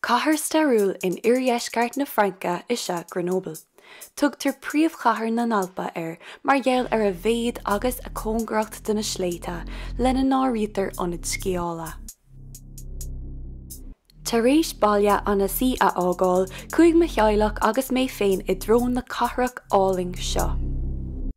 Cathair stairiúil in oirdheisceart na Fraince is ea Grenoble. Tugtar príomhchathair na nAlpa air mar gheall ar a mhéad agus a cóngaracht do na sléibhte, lena n-áirítear ionaid sciála. Tar éis baile Annecy a fhágáil, chuaigh mo theaghlach agus mé féin i dtreo na cathrach álainn seo.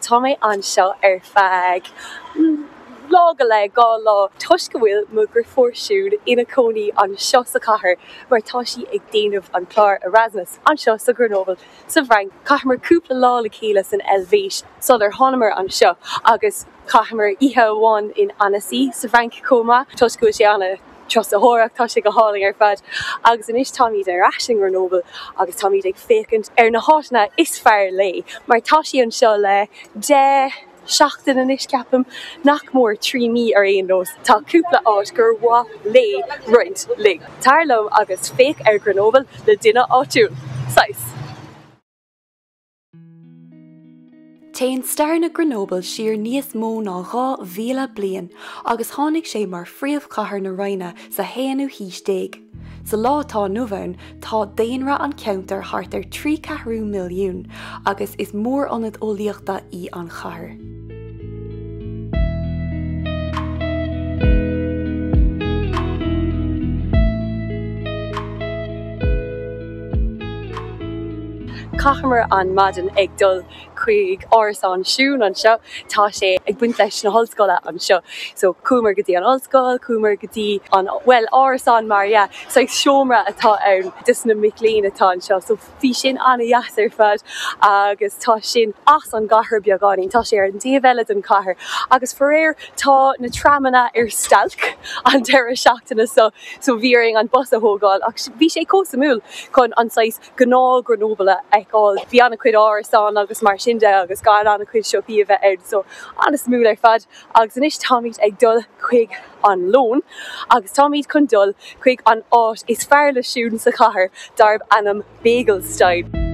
Tá mé anseo ar feadh lá go leith, dhá lá, toisc go bhfuil mo dhriofúr Siún ina cónaí anseo sa chathair mar tá sí ag déanamh an clár Erasmus anseo sa Grenoble sa bhFrainc. Chaitheamar cúpla lá le chéile san Eilvéis sular thánamar anseo agus chaitheamar oíche amháin in Annecy sa bhFrainc chomh maith toisc go bhfuil sé ana turasóireacht, tá sé go hálainn ar fad agus anois táimid ar ais in Grenoble agus táimid ag féachaint ar na háiteanna is fearr léi mar tá sí anseo le deich seachtain anois ceapaim, nach mór trí mí ar aon nós. Tá cúpla áit gur mhaith léi roinnt linn. Tar liom agus féach ar Grenoble le duine áitiúil! Saghas. Téann stair na Grenoble siar níos mó ná 2,000 bliain agus tháinig sé mar phríomhchathair na Roinne sa haonú haois déag. Sa lá atá inniu ann, tá daonra an cheantair thart ar thrí ceathrú milliún agus is mór-ionad eolaíochta í an chathair. Chaitheamar an maidin ag dul chuig árasán Siún anseo, tá sé ag baint leis na hollscoile anseo, so chuamar go dtí an ollscoil, chuamar go dtí an, bhuel, árasán mar dhea, saghas seomra atá ann dos na mic léinn atá anseo, so. Bhí sin ana-dheas ar fad agus tá sin as an gcathair beagáinín, tá sé ar an taobh eile den chathair agus faraor tá na tramanna ar stailc an deireadh seachtaine seo so bhí orainn an bus a thógáil ach bhí sé chomh suimiúil chun an saghas gnáth Grenoble a fheiceáil, bhí an-chuid árasán agus mar sin de agus gan an-chuid siopaí a bheith ann so an-suimiúil ar fad. Agus anois táimid ag dul chuig an lón agus táimid chun dul chuig an áit is fearr le Siún sa chathair darb ainm Bagelstein.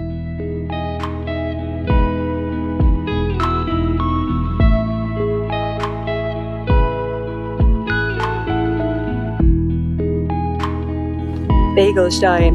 Bagelstein.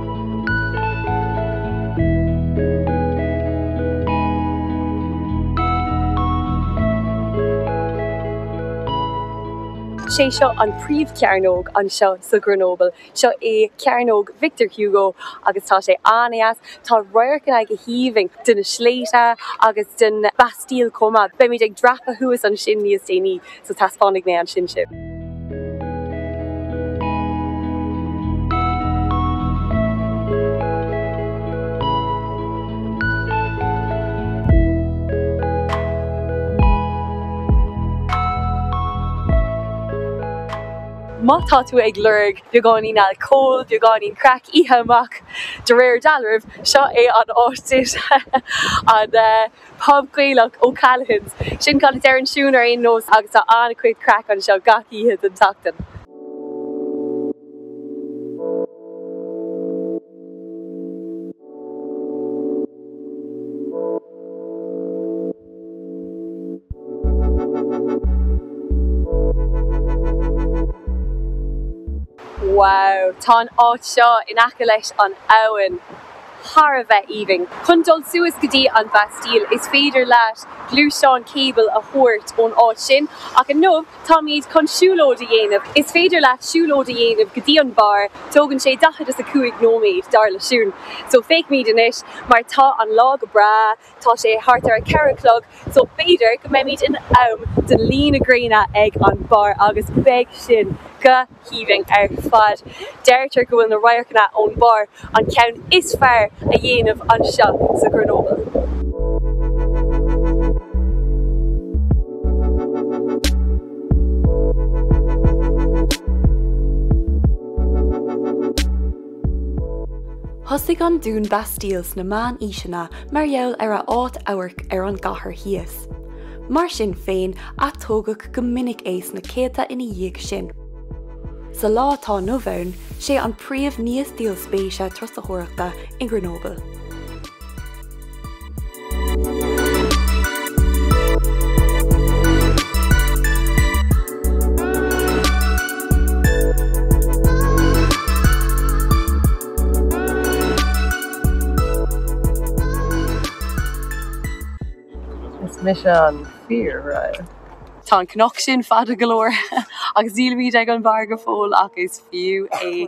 Sé seo an príomhchearnóg anseo sa Grenoble. Seo é Cearnóg Victor Hugo agus tá sé an-dheas. Tá radharcanna go haoibhinn de na sléibhte agus den Bastille chomh maith. Beimid ag dreapadh thuas ansin níos déanaí. So taispeánfaidh mé é sin daoibh. Má tá tú ag lorg beagáinín alcóil, beagáinín craic, oíche amach de réir dealraimh, seo é an áit duitse. Pub Gaelach, O'Callaghan's. Sin cad a deireann Siún ar aon nós agus tá an-chuid craic anseo gach oíche den tseachtain. Wow! Tá an áit seo in aice leis an abhainn. thar a bheith aoibhinn. Chun dul suas go dtí an Bastille, is féidir leat gluaisteán cable a thabhairt ón áit sin, ach inniu táimid chun siúlóid a dhéanamh. Is féidir leat siúlóid a dhéanamh go dtí an barr, tógann sé daichead is a cúig nóiméad, dar le Siún. So feicfimid anois, mar tá an lá go breá. Tá sé thart ar a ceithre a chlog so b'fhéidir go mbeimid in am do luí na gréine ag an barr agus beidh sin go haoibhinn ar fad. Deirtear go bhfuil na radharcanna ón barr an ceann is fearr a dhéanamh anseo sa Grenoble. Thosaigh an Dún Bastille sna meánaoiseanna mar gheall ar a áit amhairc ar an gcathair thíos. Mar sin féin, atógadh go minic é sna céadta ina dhiaidh sin. Sa lá atá inniu ann, sé an príomh ní is díol spéise turasóireachta i nGrenoble. Is mise an fear, right? Tá an cnoc sin fada go leor agus nílimid ag an mbarr go fóill ach is fiú é.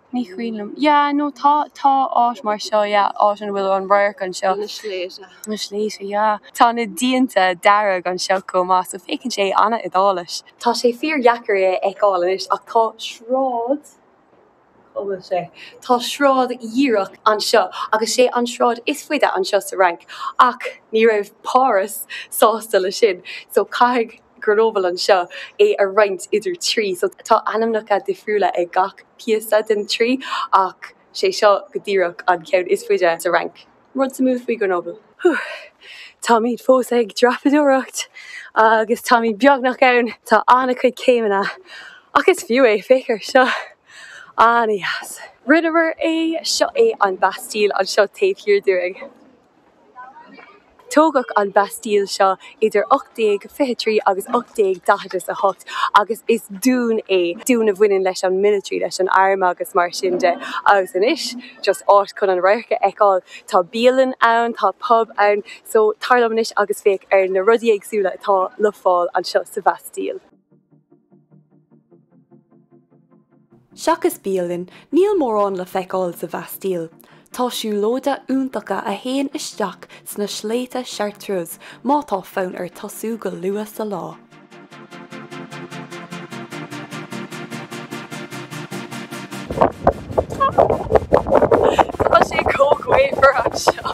Ní cuimhin liom. Yeah, no, tá, tá áit mar seo, yeah, áit ina bhfuil an radharc anseo. Na sléibhte. Na sléibhte, yeah. Tá na díonta dearg anseo chomh maith, so féachann sé an-Iodáilis. Tá sé fíordheacair é a fheiceáil anois ach tá sráid, cá bhfuil sé? Tá sráid dhíreach anseo agus sé an sráid is faide anseo sa Fhrainc ach ní raibh Páras sásta leis sin, so caithfidh, Grenoble anseo, é a roinnt idir trí. So tá ainmneacha difriúla ag gach píosa den trí ach sé seo go díreach an ceann is faide sa Fhrainc. Rud suimiúil faoi Grenoble. Whew! Táimid fós ag dreapadóireacht agus táimid beagnach ann. Tá an-chuid céimeanna ach is fiú é, féach ar seo! An-dheas! Rinneamar é! Seo é an Bastille anseo taobh thiar dúinn. Tógadh an Bastille seo idir 1823 agus 1848 agus is dún é, dún a bhaineann leis an military, leis an arm agus mar sin de agus inniu just áit chun an radharc a fheiceáil. Tá bialann ann, tá pub ann so tar liom anois agus féach ar na rudaí éagsúla atá le fáil anseo sa Bhastille. Seachas bialann, níl mórán le feiceáil sa Bhastille. Tá siúlóidí iontacha a théann isteach sna sléibhte Chartreuse má tá fonn ort tosú go luath sa lá. Tá sé chomh gaofar anseo!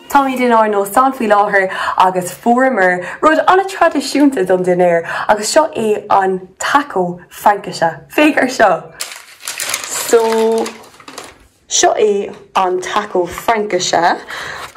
Táimid inár n-óstán faoi láthair agus fuaireamar rud an-traidisiúnta don dinnéar agus seo é an taco Fraincise. Féach ar seo! So, seo é an taco Fraincise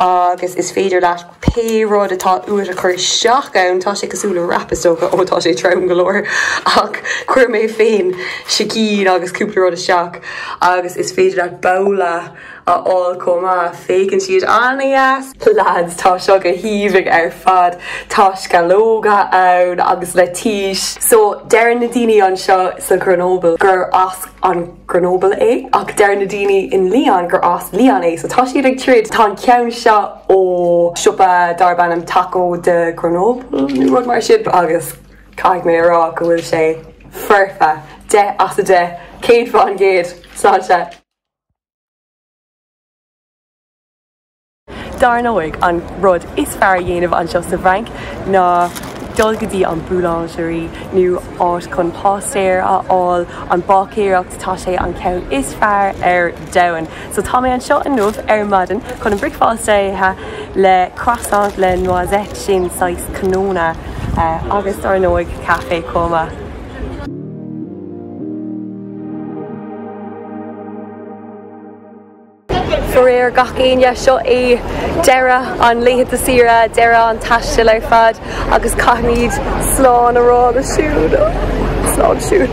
agus is féidir leat pé rud atá uait a chur isteach ann. Tá sé cosúil le wrap is dócha, ó tá sé trom go leor ach chuir mé féin sicín agus cúpla rud isteach agus is féidir leat babhla, a fháil chomh maith. Féachann siad an-deas. Leaids, tá seo go haoibhinn ar fad. Tá sceallóga ann agus leitís. So, deireann na daoine anseo sa Ghrenoble gur as an Grenoble é ach deireann na daoine in Lyon gur as Lyon é. So, tá siad ag troid. Tá an ceann seo ó siopa darb ainm Taco de Grenoble nó rud mar sin agus caithfidh mé a rá go bhfuil sé foirfe. Deich as a deich. Céad fán gcéad. Sláinte. Dar ndóigh, an rud is fearr a dhéanamh anseo sa bhFrainc ná dul go dtí an boulangerie, nó áit chun pastries a fháil, an báicéireacht, tá sé an ceann is fearr ar domhan! So tá mé anseo inniu ar maidin chun an bricfeasta a ithe le croissant le noisettes, sin saghas cnónna, agus dar ndóigh, caife chomh maith. Fóraoir gach éinne, seo é deireadh na laethanta saoire, deireadh an taistil ar fad agus caithfimid slán a rá le Siún. Slán Siún.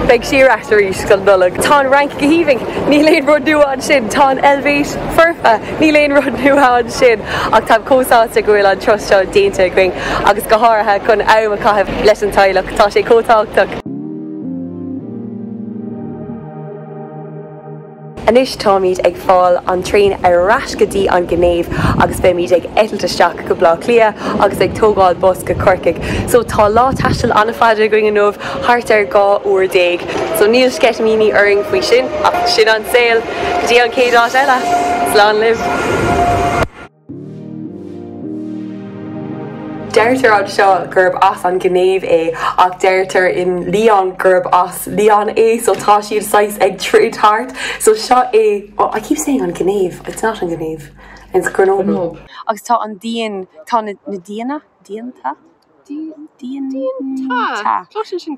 Beidh sí ar ais arís don Nollaig. Tá an Fhrainc go haoibhinn, níl aon rud nua ansin, tá an Eilvéis foirfe, níl aon rud nua ansin, ach táim chomh sásta go bhfuil an turas seo déanta againn agus go háirithe chun am a chaitheamh leis an teaghlach, tá sé chomh tábhachtach. Anois táimid ag fáil an traein ar ais go dtí an Ghinéiv agus beimid ag eitilt isteach go Bleá Cliath agus ag tógáil bus go Corcaigh. So tá lá taistil an-fhada againn inniu, thart ar dhá uair déag. So níl sceitimíní orainn faoi sin ach sin an saol. Go dtí an chéad áit eile, slán libh! Deirtear anseo gurb as an Ghinéiv é ach deirtear in Lyon gurb as Lyon é so tá siad saghas ag troid thart so seo é oh I keep saying an Ghinéiv it's not an Ghinéiv it's Grenoble agus tá an díon tá na díana díonta díon díon tá tá sin sin